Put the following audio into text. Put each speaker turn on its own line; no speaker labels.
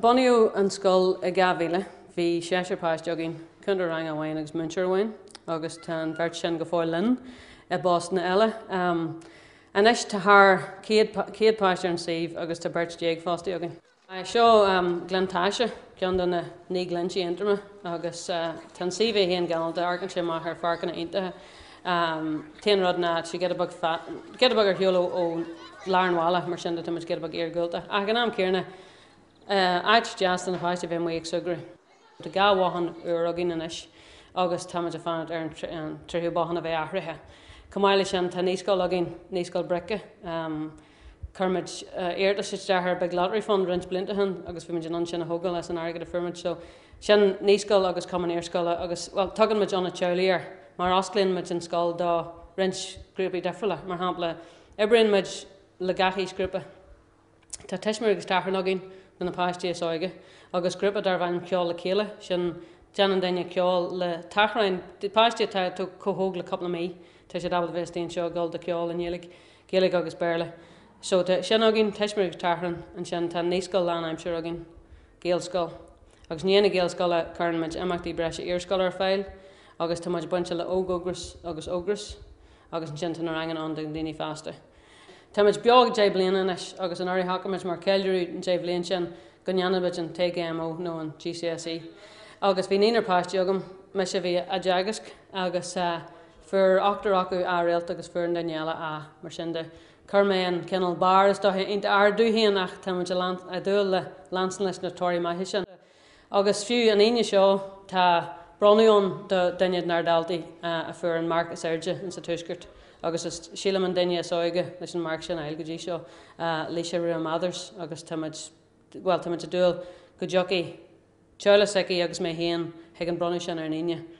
Bunaíodh an scoil i 2000. Bhí seisear páiste againn, cúntóir ranga amháin agus múinteoir amháin, agus tá an bheirt sin go fóill linn i bpostanna eile. Anois tá thar 100 páiste ar an suíomh agus tá beirt déag fostaí againn. Seo Gleann Taisí, ceann de na Naoi nGlinntí Aontroma agus tá an suíomh é féin galánta, amharcann sé amach ar pháirceanna iontacha. T-aon rud ná tá sé giota beag fada, giota beag ar shiúl ó lár an bhaile, mar sin de tá muid giota beag iargúlta ach ag an am céanna áit deas do na páistí a bheith amuigh ag súgradh. Tá dhá bhothán úr againn anois agus táimid ag fanacht ar an tríú bothán a bheith athraithe. Chomh maith leis sin, tá naíscoil againn, Naíscoil Bric. Chuir muid iarratas isteach chuig Big Lottery Fund roinnt blianta ó shin agus bhí muid in ann sin a thógáil as an airgead a fuair muid. So, sin naíscoil agus cumann iarscoile agus, bhuel, tugann muid Ionad Teaghlaigh air mar osclaíonn muid an scoil do roinnt grúpaí difriúla. Mar shampla, oibríonn muid le gach aoisghrúpa. Tá tuismitheoir agus tachrán againn do na páistí is óige agus grúpa darb ainm Ceol le Chéile, sin déanann duine ceol le tachráin, páistí atá chomh hóg le cúpla mí tá siad ábalta bheith istigh anseo ag dul do cheol i nGaeilge, Gaeilge agus Béarla. So tá sin againn, tuismitheoir agus tachrán, ansin tá naíscoil lán-aimsire againn, Gaelscoil, agus i ndiaidh na Gaelscoile cuireann muid imeachtaí breise iarscoile ar fáil agus tá muid bainteach le Óg-Ógras agus Ógras agus ansin tá na ranganna ann do dhaoine fásta. Táimid beo deich mbliana anois agus anuraidh shocraigh muid mar cheiliúradh deich mbliana sin go ndéanfadh muid an TGMO nó an GCSE agus bhí naonúr páistí agam, mise a bhí á dteagasc agus fuair ochtar acu A réalt agus fuair an duine eile A. Mar sin de, chuir mé an cineál barr is dóiche iontach ard dom féin ach táimid ag dúil le leanstan leis na torthaí maithe sin. Agus fiú an Aoine seo tá bronnadh ann do dhuine de nár daltaí a fuair an marc is airde in sa Tuaisceart agus sílim an duine is óige leis an marc sin a fháil go dtí seo, Laoise Rua Mathers agus táimid, bhuel táimid ag dúil go dtiocfaidh Charlie Hickey agus mé féin chuig an bronnadh sin ar an Aoine.